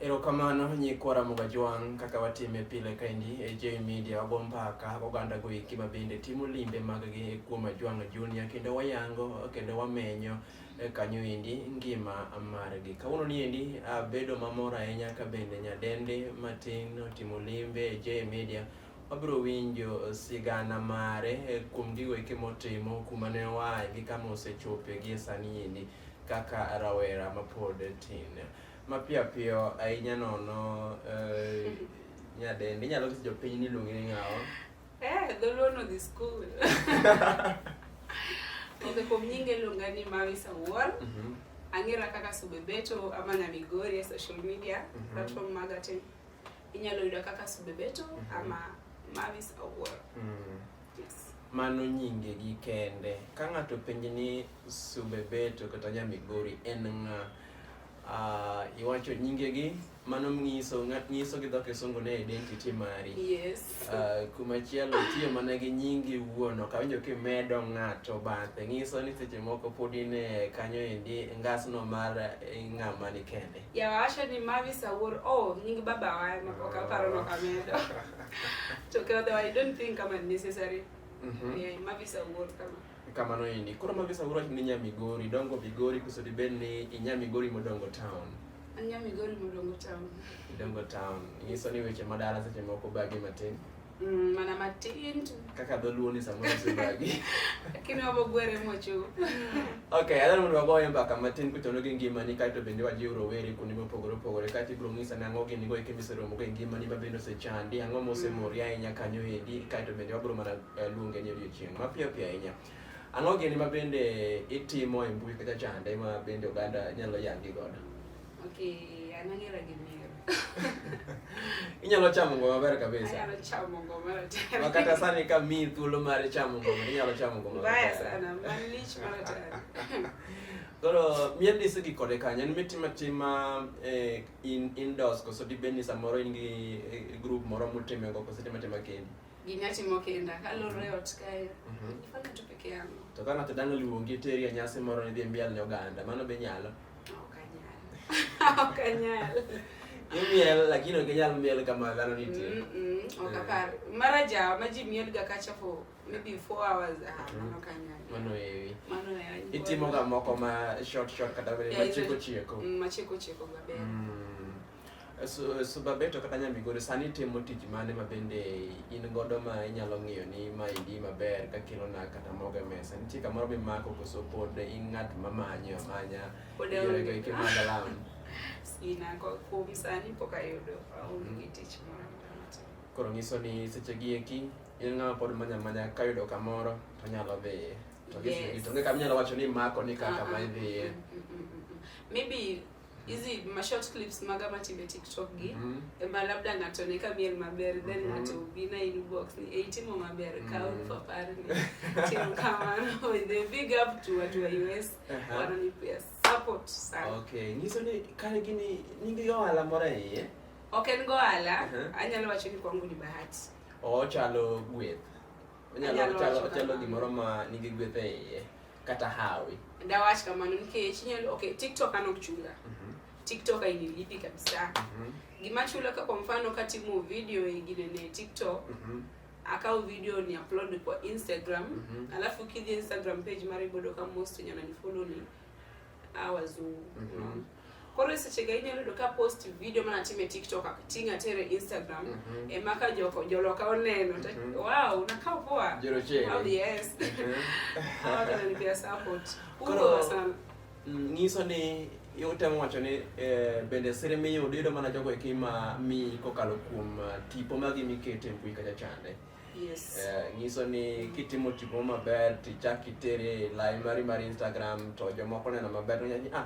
Erokamano nyikwa Ramoga Jwang' kaka watime pile kaendi e J Media wago mbaka oganda go eki ma bende timo limbe maggi kuom Ajwang' Junior kendo wayango kendo wamenyo e kanyo endi ngima margi. Kawuono ni endi abedo mamor ahinya ka bende nyadende matin otimo limbe e J Media wabiro winjo sigana mare e kuom gigo eki motimo kuma ne oaye gi kama osechope gi e sani endi. kaka rawera mapod tin mapiyo piyo ahinya nono eh, nyadendi inyalo nyiso jopiny ni iluongi ni ng'awa Eh, dholuo no dhi skul. Onge kuom nyinge iluonga ni Mawi Sawuor. Mhm, Ang'era kaka Subebeto ama na Migori e social media Mhm. platform maga te. Inyalo yuda kaka Subebeto Mhm. ama Mawi Sawuor. mhm. Yes. mano nyingegi kende ka ng'ato penji ni Subebeto kata nya Migori en ng'a? Uh, iwacho nyingegi mano nyiso nyiso gi dho kisungu ne identity mari yes. Uh, kumachielo tiyo mana gi nyingi wuon ok awinjo kimedo ng'ato bathe nyiso ni seche moko pod in e kanyo endi ngasno mar eh, ng'ama ni kende yawacho ni mavis awuor o oh, nying baba wa mapok aparo nok amedo to ke otherwise i don't think kama necessary mm -hmm. yeah, mavis awuor kama kamano ini koro magi samoro ni nya migori dongo migori koso dibed ni inya migori modongo town anya migori modongo town idongo town inyiso ni weche madala seche moko bagi matin mm, mana matin tu kaka dholuo ni samoro sibagi lakini wabo gwere mocho okay adhani mondo wagoye mbaka matin kuchono gi ngimani kaeto bende wajiw rowere kuonde mopogore opogore kaeto ibiro ng'isa ni ang'o gini go eke miseromogo e ngimani ma bende osechandi ang'o mosemori ahinya kanyo endi kaeto bende wabiro mana eh, luonge ni odiochieng' mapiyo piyo ahinya. Ang'o gini ma bende itimo e mbui kata chande ma bende oganda nyalo yangi godo? Okay, an ang'era gi miero. Inyalo chamo ngoma maber kabisa. Anyalo chamo ngoma maratari. Ma kata sani ka miyi thuolo mar chamo ngoma, inyalo chamo ngoma Mbaya maratari. sana, malich maratari. Koro mien ni isegi kode kanye? En mitimo atima eh, in indoors koso dibed ni samoro in gi eh, group moro mutime go koso itimo atima kendi? Ginya timo kinda kaloro e ot kae. Mhm. Ifanya tu peke yangu. To kana to dano luongi teri e nyasi moro ni dhi mbiel ne oganda, mano be nyalo. Ok anyal. Ok anyal. Imiel lakini ok inyal miel kama dhano nitie. Mm, mm, ok apar. Mara ja ma ji mielga kacha for maybe 4 hours. Ah, mano ok anyal. Mano ewi. Mano ewi. Itimo ga moko ma short short kata Yeah, machiko izo- chiko. Mm, Machiko chiko maber. Mm. Subabeto kata Nyamigori sani timo tich mane ma bende in godo ma inyalo ng'iyo ni ma indi maber ka kilo na kata mogo e mesa nitie kamoro mimako koso pod in ng'at ma manyo amanya yorego eke mag alam sina kuom sani pok ayudo aonge mm-hmm. tich moro koro nyiso ni seche gi eki in ng'ama pod manya amanya kayudo kamoro to nyalo dhiye to gis to ng'e kama inyalo wacho ni mako ni kaka ma idhiye maybe hizi ma short clips maga matime TikTok gi mm -hmm. ema labda ng'ato ne ka miel maber mm -hmm. then mhm. ng'ato bina in box ni e itimo maber mm -hmm. kaun mhm. papar ni timo kamano in the big up to watu wa US uh -huh. wananipea support sana okay nyiso ni kare gini ningi yo ala mora ye okay ngo ala uh -huh. anyalo wacho ni kwangu ni bahati o chalo gweth anyalo chalo chalo gimoro ma nigi gweth e iye kata hawi ndawach kamano nikech inyalo okay tiktok an ok chula mm -hmm. tiktok ainilipi kabisa mm -hmm. gima chula ka kwa mfano katimo video ingine ne tiktok mm -hmm akaw video ni upload kwa instagram mm -hmm. alafu kidhi instagram page mara ibodo ka most wenye wananifollow ni awazungu mm -hmm. Koro e sechega inyalo yudo ka post video mana time TikTok ating' atere Instagram mm -hmm. ema ka joko joloka oneno mm -hmm. wow nakawo poa jero chero oh yes mm -hmm. pia support koro sana mm, ngiso ni utemo wacho ni eh, bende siri miyudo yudo mana jogo eki ma mi kokalo kuom eh, tipo magi mikete mbui kacha chande yes. eh, nyiso ni kitimo tipo maber tichak itere lai mari mar instagram to jomoko neno maber nonyaji ah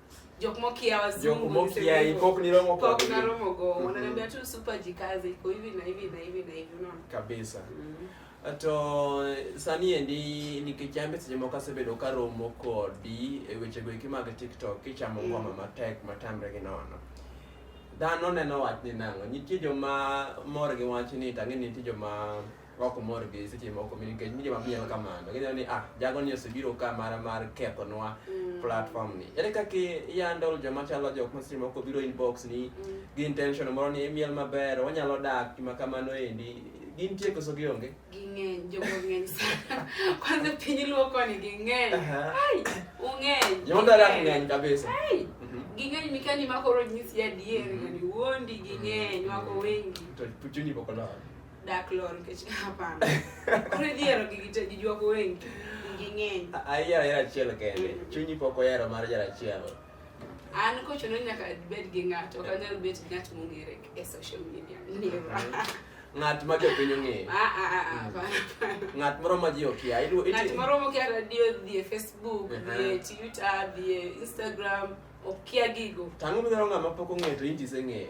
jok mokia wazungu mokia hip hop ni romo kwa kwa na romo go mm-hmm. wananiambia tu super jikaze iko hivi na hivi na hivi na hivi unaona kabisa mm -hmm. ato sani endi nikichambe seche moko asebedo ka romo kodi e weche go eki mag tiktok kichamo ngoma mm. matek matamre gi nono dhano neno wach ni nang'o nitie joma mor gi wach ni tang'e nitie joma ok omor gi seche moko mi nikech mi joma miel kamano gineno ni ah jago ni osebiro ka mar mar kethonwa mm. platform ni ere kaka iyandol joma chalo jok ma seche moko biro inbox ni mm. gi intention moro ni imiel maber wanyalo dak gima kamano endi gin tie koso gionge ging'eny jogo ng'eny sana kwanza piny luo koni ging'eny ai ung'eny jomodara ng'eny kabisa ai mhm. ging'eny mikani makoro nyisi adier mhm. ngani wuondi ging'eny wako wengi to puchuni bokolor Dark lore nikech hapana. Kore diero gi gite gi jwako wengi. Nging'eny. Ayiero ayiero achiel kende. Mm. Chunyi pok oyero mar jara achiel. An kochuno nyaka bed gi ng'ato, ok anyal bet ng'at mong'ere e social media. Never. Mm-hmm. Ng'at ma jo piny ong'eyo. Ah ah ah. ah mm. Ng'at moro ma ji okia. Ng'at moro ma okia radio dhie Facebook, uh-huh. dhie Twitter, dhie Instagram, okia gigo. Tango midwaro ng'ama pok ong'eyo to inji iseng'eyo.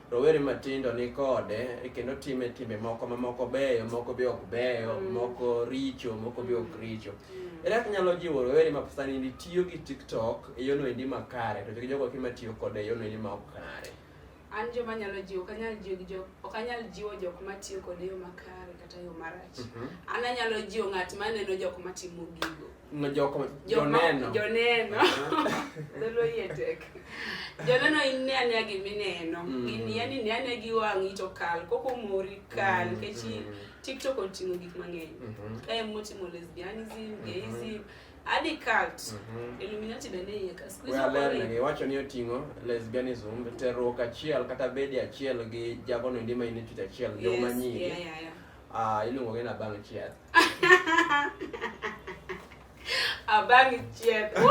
rowere matindo ni kode e kendo time timbe moko ma moko beyo moko be ok beyo mm. moko richo moko be ok richo mm. ere kaka inyalo jiwo rowere ma sani ni tiyo gi tiktok e yono endi makare to jogo ki matiyo kode e yono endi ma ok kare an joma nyalo jiwo ok anyal jiwo jo ok anyal jiwo jok matiyo kode yo makare kata yo marach mm -hmm. an anyalo jiwo ng'at maneno jok matimo gigo No, jo, como, jo neno. Jo neno. Dholuo yie tek. Jo neno ine ane gima ineno. Mm. Gini yani ine ane gi wang'i to kal. Koko mori kal. Mm. Kechi mm. TikTok oting'o gik mang'eny. Mm -hmm. Kae motimo lesbianism, mm -hmm. gayism. Adi cult. Mm -hmm. Illuminati bende iye ka. Squeeze up. Well, lengi, wacho ni oting'o lesbianism, terruok achiel kata bedi achiel gi jagono ndima initwit achiel. Yes, yeah, yeah, yeah. Ah, ilungo ke nabanga ichiyatha. Abanga ichiyatha.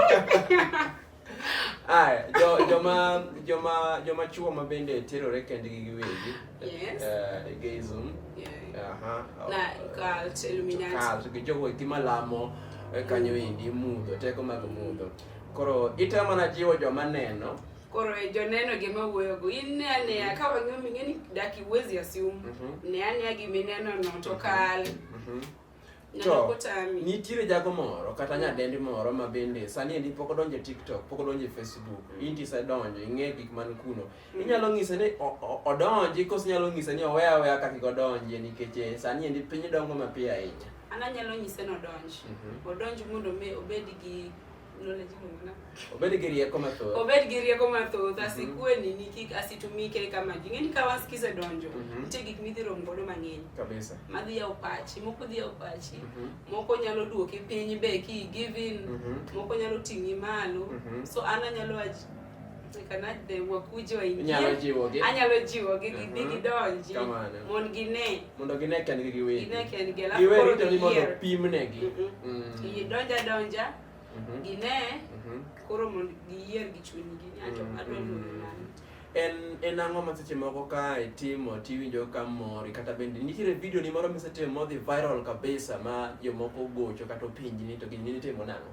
Aya, jo, joma joma joma chuo ma bende terore kendgi giwegi. Yes. Uh, gayism. Yeah. Aha. Uh -huh. Na cult illuminati. Cult gi jogo itimo lamo e kanyo indi mudho teko mag mudho. Koro itemo mana jiwo joma neno Koro e joneno gi ma wuoyo go in ne aneya ka wang'eyo ming'e ni daki uwezi assume Mhm. ne aneya gi mineno no to kal Mhm. neno To kotami nitiere jago moro kata nyadendi moro ma bende sani endi pok odonjo e TikTok, pok odonjo e Facebook, inti isedonjo, ing'e gik man kuno. Inyalo ng'ise ni o- o- odonji kose inyalo ng'ise ni owe aweya kaka kik odonjie nikech eh, sani endi piny dongo mapiyo ahinya. an anyalo nyise nodonj Mhm. odonj mondo mi obed gi Obed gi rieko mathoth. Obed gi rieko mathoth, mhm. asikue nini kik asitumike kama ji. Ng'eni ka was kise donjo, mhm. nitie gik midhi romo godo mang'eny. Kabisa. Madhi yawo pachi, moko dhi yawo pachi, mhm. moko nyalo duoki piny be ki give in, moko nyalo ting'i malo. So an anyalo wakuji waingie inyalo jiwogi anyalo jiwogi gi mhm. gidonji mondo gine mondo gine kendgi giwegi gine kendgi alafu giwe rito ni mondo pimnegi mhm. mm. idonja donja mhm. gine koro mondo giyier gi chunygi nyacho adwa luwo en en ang'o ma seche moko ka itimo tiwinjo ka mori kata bende nitiere video ni moro misetimo modhi viral kabisa ma jomoko gocho kata opinji ni to gini nitimo nang'o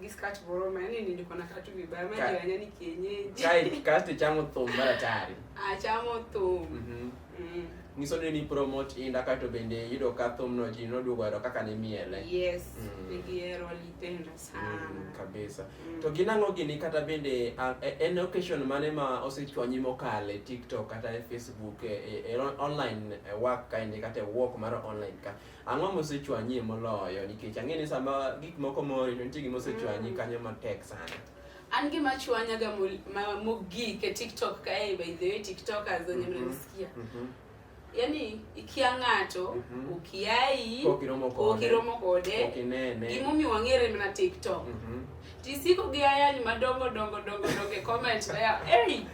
Giskat boroma, yani nilikuwa nakaa tu vibaya, maji ya nyani kienyeji. Kai kasti chamo thumba tayari. Ah, chamo thumba. Mhm. Mm. Niso ni promote inda ka to bende yudo ka thum no ji no dugo ero kaka ni miele. Yes. Mm. Nigiero litenda mm, sana. Mm, kabisa. Mm. To ginango gini kata bende uh, en occasion mane ma osechwanyi mokale TikTok kata e Facebook e, e, e online e, work kainde kata e work mar online ka. Ang'o mosechwanyi moloyo nikech ang'e ni sama gik moko mori to nitie gima osechwanyi mm. kanyo matek sana. An gima chwanyaga mogik e TikTok kae by the way TikTokers wenye mm-hmm. mnanisikia. Mm-hmm. Yaani ikia ng'ato mm-hmm. ukiai ukiromo kode gimomiyo wang'ere mana TikTok. Tisiko gi ayany madongo dongo dongo dongo e comment ya. Hey.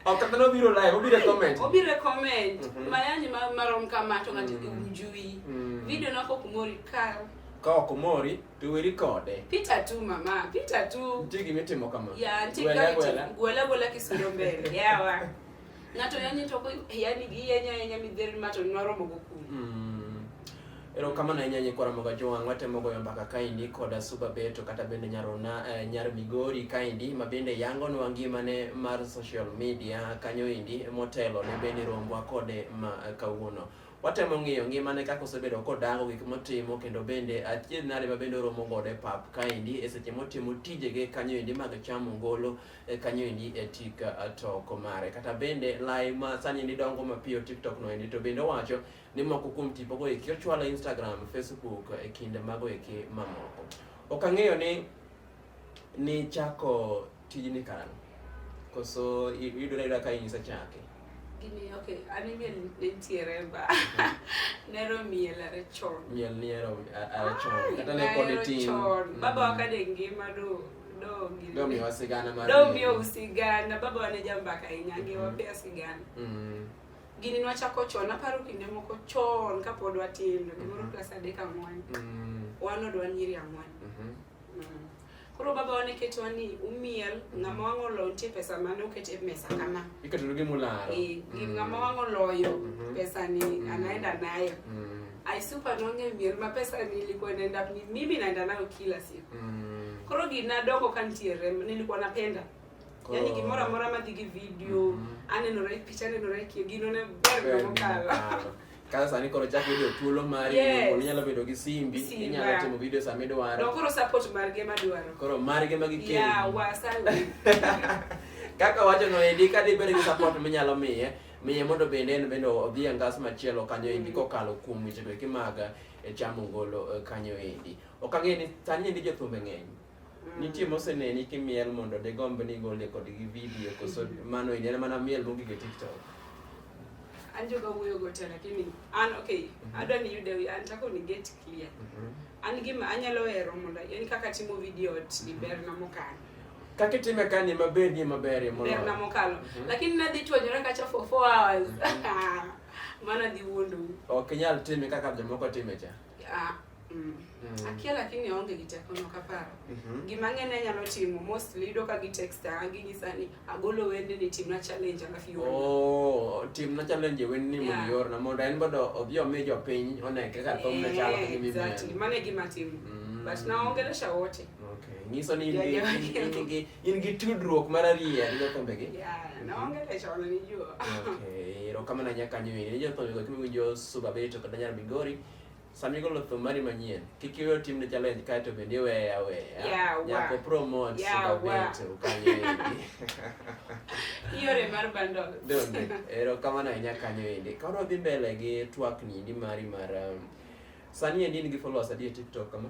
Ok kata no biro live, obiro e comment. Obiro e comment. Mm -hmm. Mayany ma marom kama to ngati mm. ujui. Mm. Video nako kumori kar. Ka ok mori to weri kode. Pita tu mama, pita tu. Nitie gima itimo kama. Ya, nitie gima itimo. Gwela gwela kisiro mbele. Yawa. Ng'ato yanye to yani gi yanya yanya midhier ma to nwaromo go kum. Mm. Erokamano ahinya nyikwa Ramoga Jowang' watemo goyo mbaka kaendi koda Suba Beto kata bende Nyarona eh, Nyar Migori kaendi ma bende yangonwa ngimane mar social media kanyo endi motelo ne bende rombwa kode ma eh, kawuono. Watemo ng'iyo ngimane kaka osebedo kodango gik motimo kendo bende achiedh nade ma bende oromo godo e pap kaendi e seche motimo tijege kanyo endi mag chamo ngolo e kanyo endi e tik uh, toko mare kata bende lai ma sani ni dongo mapiyo tiktok no endi to bende owacho ni moko kuom tipo go eki ochwalo instagram facebook e kinde mago eki mamoko ok ang'eyo ni ni chako tijni karang'o koso yudore ayuda ka inyisa chake gini ok anime nitiere ba nero miel are chon miel niero are chon kata ne pod itin baba wakade ngima do do miwa sigana mar do miwa sigana baba wane jambaka ahinya mm-hmm. ngewa pia sigana mm-hmm. gini nwachako chon aparo kinde moko chon kapod watindo gimoro mm-hmm. klas adek ang'wen wan odwa nyiri ang'wen mm. koro baba wane ketwa ni umiel ng'ama wang' oloyo nitie pesa mane oket e mesa kama iketono gimularo eh, mm. ng'ama wang' oloyo pesani anaenda nayo I super nonge miel ma pesa nilikuwa naenda mimi naenda nayo kila siku. Mm. Koro gina doko kantiere nilikuwa napenda. Oh. Yaani gimoro amora ma digi video, mm -hmm. aneno right picha aneno right kio gino ne ber no kala. Ah. Kasa sani koro chak video thuolo mari yes. Koro inyalo bedo gi simbi, simbi inyalo timo video sama idwaro. No koro support mar ge madwaro. Koro mar ge ma gikelo. Yeah, wasawi. Kaka wacho no edi ka dibed gi support minyalo miye. miye mondo bende en bende odhi e ngas machielo kanyo endi mm. kokalo kuom wechego eki mag eh, chamo ngolo eh, kanyo endi ok ang'e ni sani endi jothumbe ng'eny mm. nitie moseneni kimiel mondo digomb ni gole kod gi video koso mm. mano endi en mana miel mogik e tiktok anjoga wuoyo gote lakini an okay mm-hmm. adwa ni yude an tako ni get clear mm-hmm. an gima anyalo hero mondo yani kaka timo video ot ni ber na mokalo kaka itime ka ni maber ni maber e moloyo na mokalo mhm. lakini nadhi chwanyora kacha for 4 hours mhm. mana dhi wuondo ok inyal time kaka jomoko time cha ah, mm. mm. akia lakini aonge gi teko no kaparo mm -hmm. gima ng'eny anyalo timo mostly yudo ka gi texta ginyisa ni agolo wende ni timna challenge alafu iorna. Oh, timna challenge wen ni mondo Yeah. iorna mondo en bodo odhi omi jopiny one kaka thum ne chalo Eh, kaka exactly. mimi. Mano e gima timo. Mm. But naongelesha wote. Okay. Nyiso ni in gi- Jajua in- in kendo. gi in gi tudruok mar ariya gi jokombegi. Yeah, naongelesha wananijua. Okay, erokamano nyakanyo ini ni jothumbe go kimiwinjo Suba Beto kata Nyar Migori Sami golo thum mari manyien, kik iwe otim ne challenge kae to bende iweye aweya. Yeah, Nyako wa. promote Yeah, wa. Superbet ukanyo endi. Iore mar bundle. Donge, ero kamano ahinya kanyo endi. Ka wadwa dhi mbele gi twakni endi mari mar um, sani endi in gi followers adi e TikTok kama?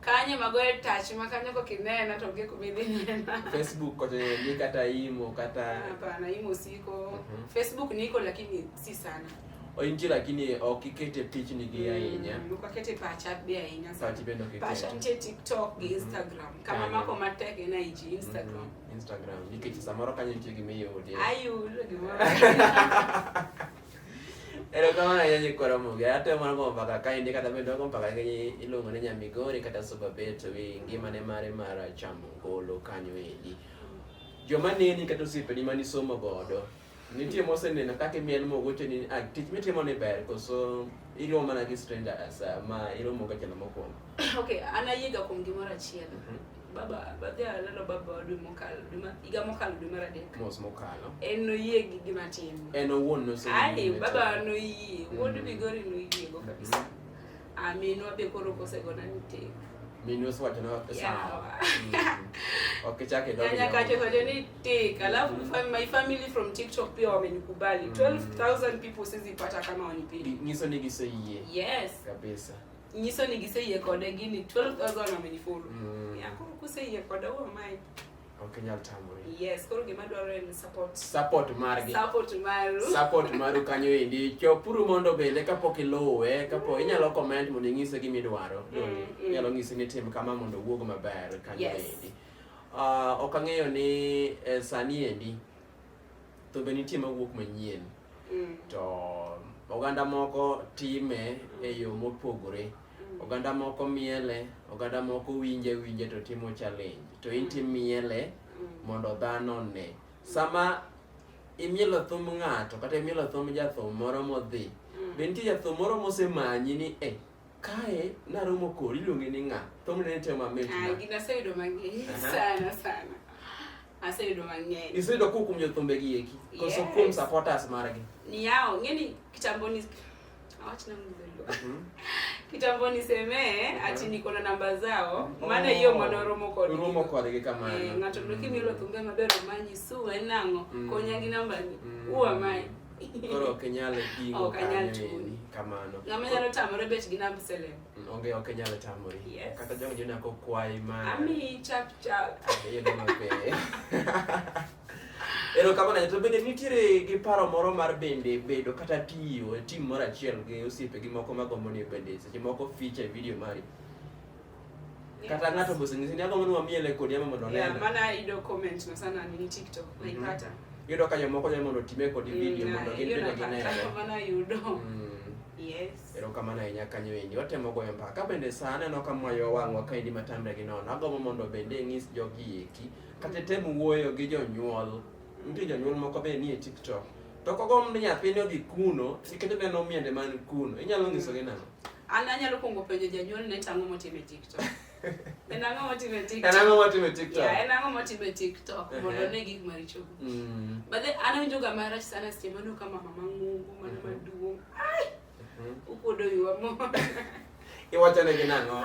Kanye magoye touch ma kanyo kok inena to onge kuma idhi nena. Facebook kocha ni kata imo kata Hapana, imo siko. Mhm. Facebook niko lakini si sana. ointie lakini ok ikete pichni gi ahinya Mm, ok akete pacha be ahinya sana. Pachi bende ok Pacha ikete. nitie TikTok gi Mhm. Instagram. Kama Kanyo. mako matek en IG, Instagram. Mhm, Instagram nikech samoro kanyo nitie gima iode Ayudo gimoro. Erokamano ahinya nyikwa Ramogi. Atemo mana gombo mbaka ka indi kata bende wago mbaka gi iluongo ni Nyamigori kata Superbet wi ngimane mare mar chamo ngolo kanyo endi. Joma neni kata osiepeni mane isomo godo, nitie moseneno kaka imiel mogoche ni ah, tich mitimo ni ber koso iromo mana gi strangers ah, ma iromo ga jalo mokwongo. Okay, an ayiega kuom gimoro achiel. Mhm. baba badhi alalo baba dwe mokalo dwe ma higa mokalo dwe mar adek mos mokalo en noyie gi gima tim en owuon nose ai baba noyie wuod mm. migori noyie go kabisa mm. aminwa ah, be koro kosegona ni tek minwa siwacho na sawa mm. okay chake ndio nyanya kacho kacho ni tek alafu my family from tiktok pia wamenikubali 12000 people sizipata kama wanipenda ngiso ni giseyie yes kabisa nyiso ni giseyie kode gini 12000 amenifollow mm. yeah, koro kuseyie kode wo mai ok inyal tamori yes koro gima dwarore en support support margi support maru support maru kanyo endi chopuru mondo bende kapok iluwe kapo inyalo comment mondo inyise gima idwaro mm, mm. inyalo nyise ni tim kama mondo owuog maber kanyo yes. endi uh, ok ang'eyo ni eh, sani endi to be nitie mawuok manyien mm. to oganda moko time e yo mopogore mm. oganda moko miele oganda moko winje winje to timo challenge to in timiele mm. mondo dhano ne sama imielo thum ng'ato kata imielo thum jathum moro modhi be nitie jathum moro mosemanyi ni e eh, kae naromo kori iluonge ni ng'a thumne ne tema mitna ah, gina sayudo mang'eny sana sana Aseyudo mang'eny. Iseyudo kuom kuom jothumbe gi eki. Koso yes. kuom supporters margi. Ni yao, ngeni kitambo ni awacha na mdhulu. Mhm. Kitambo ni seme mhm. ati niko na namba zao. Oh. Maana hiyo mwana romo kwa ni. Romo kwa ni kama. Eh, mm. ngato ndoki mi lo thumbe mabero manyi su enango. Mm. Konya gi namba ni. Mm. Uwa mai. Koro kenyale kingo. Oh, kanyale tu. Kamano. Ngamanya no tamore bet gi namba selemo. Onge ok nyalo tamori. Yes. Kata jong jona ko kwai ma. Ami chap chap. Ayo no mabe. Ero kama na to bende nitiere gi paro moro mar bende bedo kata tiyo e tim moro achiel gi osiepe gi moko ma gombo ni bende seche moko ficha e video mari. Kata ng'ato boso ngisi ni agombo ni wamiele kodi ama mondo nenda. Yeah, mana ido comment na sana ni TikTok mm -hmm. naipata. Yudo ka jomoko nyalo mondo time kodi mm, video mondo gin bende ginene. Mana yudo. Mm. Yes. Erokamano ahinya kanyo endi. Watemo goyo mbaka. Ka bende saa aneno ka mwayo wang'wa ka endi matamre gi nono. Agombo mondo bende ing'is jogi eki. Kata tem wuoyo gi jonyuol. Nitie jonyuol moko be nie TikTok. To kogomb ni nyathini odhi kuno, nikech oneno miende man kuno. Inyalo nyisogi nang'o? An anyalo kwongo penjo janyuol ni to ang'o motimo e TikTok. En ang'o motimo e TikTok? En ang'o motimo e TikTok? Yeah, en ang'o motimo e TikTok uh-huh. mondo ne gik maricho. Mm. But then an awinjo ga marach sana seche mano ka mama mang'ongo mano uh-huh. maduong'. Ai. Uh-huh. Ukuodo yuwa mo. Iwacho ne gi nang'o?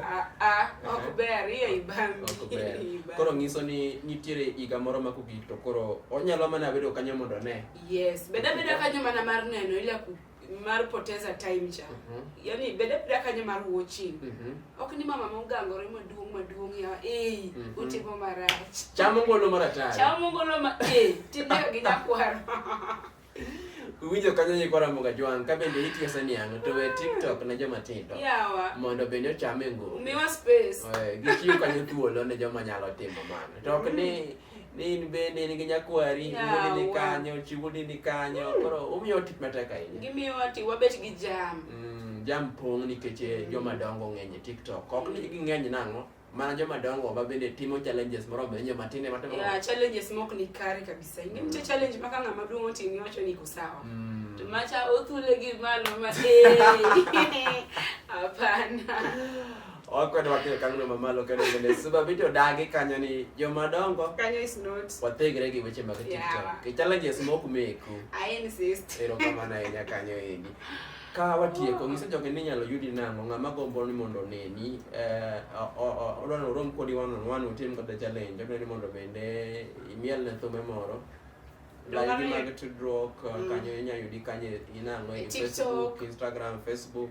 Ah, ah, ok ber iya ibang. Ok ber. Koro ngiso ni nitiere higa moro ma kugik to koro onyalo mana bedo kanyo mondo ne. Yes, beda beda kanyo mana mar neno ila kugik. mar poteza time cha mm -hmm. yani bede pida kanye mar watching mm -hmm. ok ni mama mogangore maduong maduong ya eh mm -hmm. utimo marach chamo ngolo maratari chamo ngolo ma eh tinde gi nyakwaro winjo kanyo ni kwara mboga jwang ka bende itiyo sani yango to we tiktok ne joma tindo yawa mondo bende ochame ngolo miwa space eh gitiyo kanyo thuolo ne joma nyalo timo mano to ok ni ni in bende in gi nyakwari wuodi ni kanyo chi wuodi ni kanyo hmm. koro umiyo tich matek ahinya gimiyo ati wabet gi jam mm, jam pong' nikech eh, hmm. joma dongo ng'eny e tiktok ok ni ging'eny nang'o mana joma dongo ma bende timo challenges moro be joma tinde matimo yeah, challenges mok ni kare kabisa ing'e mm. challenge maka ng'ama duong' otim iwacho ni iko sawa mm. to macha othule gi malo ma eh, hapana Okwede wakiyo kang'no mamalo kendo bende suba bito dagi kanyo ni joma dongo Kanyo is not. wathegre gi weche mag Yeah. TikTok. Ki challenges mok meku. I insist. Erokamano ahinya kanyo endi. Ka watieko ng'iso jogi ni inyalo yudi nang'o ng'ama gombo ni mondo oneni eh, o- o- o- odwa ni orom kodi one on one utim kata challenge odwa ni mondo bende imiel ne thume moro Donge Layudi ni- mag tudruok eh, Mm. kanyo inyalo yudi kanyo inang'o E e TikTok. Facebook, Instagram, Facebook.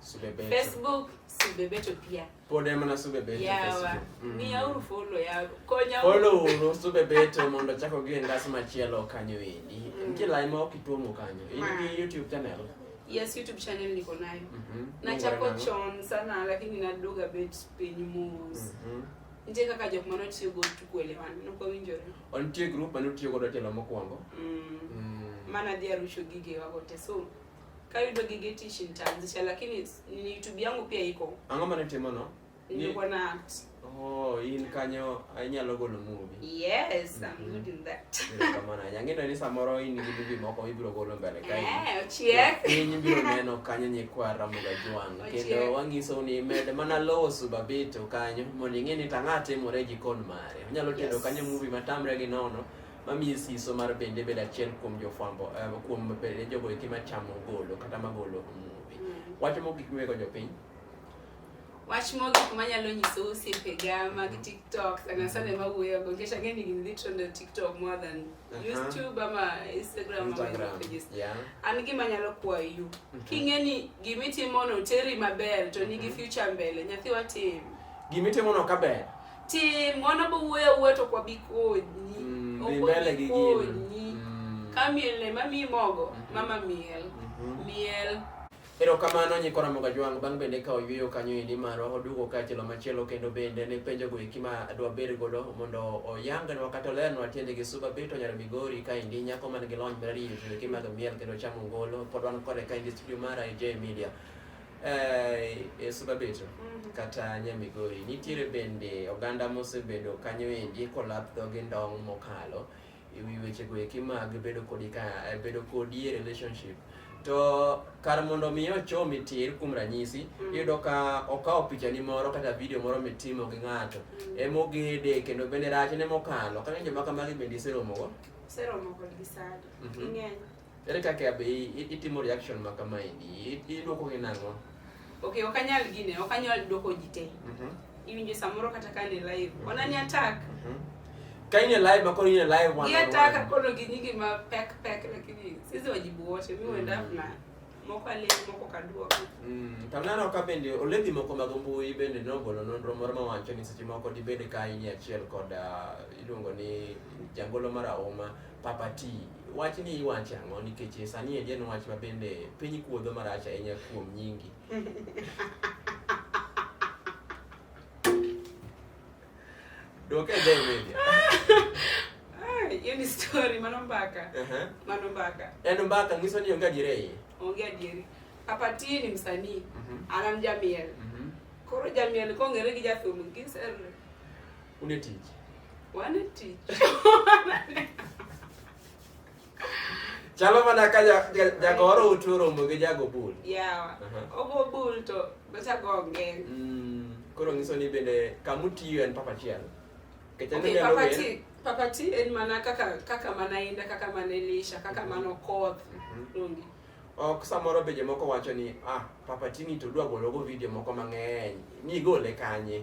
Subebeto. Facebook Subebeto pia. Pod ema na Subebeto Yawa. Facebook. Mm. Miya uru follow ya konya uru. Follow uru Subebeto mondo achak ogi e ngas machielo kanyo endi. Mm. Nitie lai ma ok ituomo kanyo. In Ma. gi YouTube channel. Yes, YouTube channel niko nayo. Mhm. Nachako Nongore chon sana lakini naduoga bet piny mos. nang'o? Mhm. Nitie kaka jok mane otiyo go to kuelewana, nok wawinjore. O nitie group mane utiyo godo telo mokwongo. Mm. Mm. Mana dhi arucho gigewa go te so Kayudo gige tich nitaanzisha lakini ni YouTube yangu pia iko. Ang'o mane timono? Nilikuwa na act. Oh, in kanyo anyalo golo movie. Yes, I'm mm-hmm. good in that. Kamana, yangino ni samoro in gi movie moko ibiro golo mbele kae. Eh, ochiek. Piny biro neno kanyo nyikwa Ramoga Jwang. Kendo wangiso ni med mana lowo subabeto kanyo mondo ing'e ni tang'a timore jikon mare. Onyalo tedo kanyo movie matamre gi nono. mamiyi siso mar bende bedo achiel kuom jofwambo uh, kuom jogo eki machamo golo kata magolo muvi mm. wach mo gik miwego jopiny wach mo gik manyalo nyiso osiepega mag mm. tiktok sana sana mm. mawuoyogo nikech ang'e ni gin literally tiktok more than uh -huh. youtube ama instagram yeah. an gima nyalo kwayo yu mm -hmm. king'e ni gimitimono teri maber to nigi mm -hmm. future mbele nyathi watim gimitimono kaber Ti mwana bo wuoyo awuoyo to kwabi konyi. Mm, dhi mbele gi gino. Konyi. Mm. Ka miel ne mami mogo, Mhm. mama miel. Mhm. Miel. Erokamano nyikora moga jwang' bang' bende ka oyueyo kanyo endi marwa oduogo ka chielo machielo kendo bende ne penjo go eki ma adwa bed godo mondo oyangnwa kata olernwa tiende gi suba bito nyar migori ka endi nyako man gi lony mar riyo joeki mag miel kendo chamo ngolo pod wan kode ka endi studio mara e J Media e Subabeto mhm. kata Nyamigori nitiere bende oganda mosebedo kanyo endi kolap dhogi ndong' mokalo e wi wechego eki mag bedo kodi ka eh, bedo kodi e relationship to kar mondo mi ochomi tir kuom ranyisi mm. iyudo ka okawo pichani moro kata vidio moro mitimo gi ng'ato mm. emogede kendo bende rachne mokalo kaka joma kamagi bende iseromogo iseromo kodgi sadi mhm. ng'eny Ere kaka be itimo reaction ma kama endi? Idwoko gi nang'o? Okay, ok anyal gine, ok anyal dwoko ji te. Mhm. Iwinjo samoro kata ka ni live. Mhm. Ona ni attack. Mhm. Ka in live ma koro in live one. Ni attack koro gi nyingi ma pek pek lakini sisi wajibu wote. Mimi wenda mm. na moko ale moko kaduoka. Mm. Tanano ka bende oledhi moko mag mbui bende nogolo nonro moro ma wacho ni seche moko dibed ka in achiel kod uh, iluongo ni jangolo mar auma Papa T, wach ni iwacho ang'o nikech e sani en wach ma bende piny kuodho marach ahinya kuom nyingi. Doke Jay Media. Hiyo ni story mano mbaka. Uh -huh. Mano mbaka. Yaani mbaka ngiso ni onge adieri iye. Onge adieri. Papa T ni msanii. Uh mhm. -huh. Anam Jamiel. Uh mhm. -huh. Koro Jamiel kong'ere gi jathum gi Une tich. Wane tich. Chalo mana ka jagoro utu romo gi jago bul. Yawa. Ogo bul to nochago ng'eny. Mm, koro nyiso ni bende kamutiyo en papa chiel. Okay, papa ti, papa ti en mana kaka kaka mana inda kaka mana elisha kaka mana okoth. Mm -hmm. ok samoro be jomoko wacho ni ah papa tini to dwa gologo video moko mang'eny ni igole kanye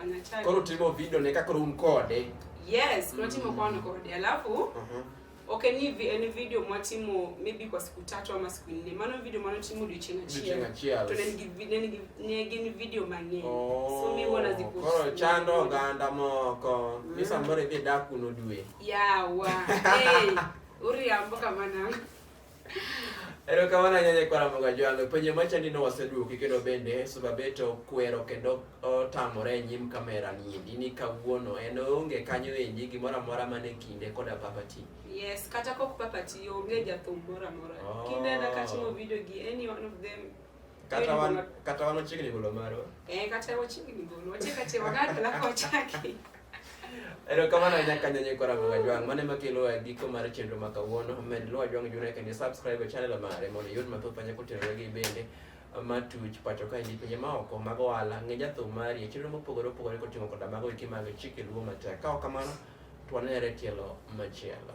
Anachati. Koro timo video ne kaka room kode. Yes, kuna timo kwa nako kodi. Alafu Mhm. okay ni vi, ni video mwatimo maybe kwa siku tatu ama siku nne. Mano video mano timo dichina chia. Dichina chia. To nigi video nigi nigi video mang'eny. Oh. So mi wana zipo. Koro chando ganda moko. Mm. Misa mbore vye daku no due. Yeah, wa. hey. Uri amboka mana. Erokamano ahinya Nyakwar Amoga Jwang'. Penjo machandi no waseduoki kendo bende Subabeto kwero kendo otamore e nyim kamera niendi ni kawuono en onge kanyo endi gimoro amora mane kinde koda papati. Yes, kata kok papati onge jathum moro amora. Oh. Kinde na katimo video gi any one of them kata wan kata wan ochiegni golo maro. Eh, kata ochiegni golo. Oche kata wagaka la kochaki. Erokamano ahinya kanyo nyikora Luwa Jwang'. Mano ema kelo e giko mar chenro ma kawuono. Med Luwa Jwang' Junior kendo subscribe e channel mare mondo iyud mathoth manya kotenore gi bende matuch pacho kae gi pinje maoko mag ohala ng'e jathum mari e chenro mopogore opogore koting'o koda mago eki mag chike luo matek. Ka ok kamano, to wanere tielo machielo.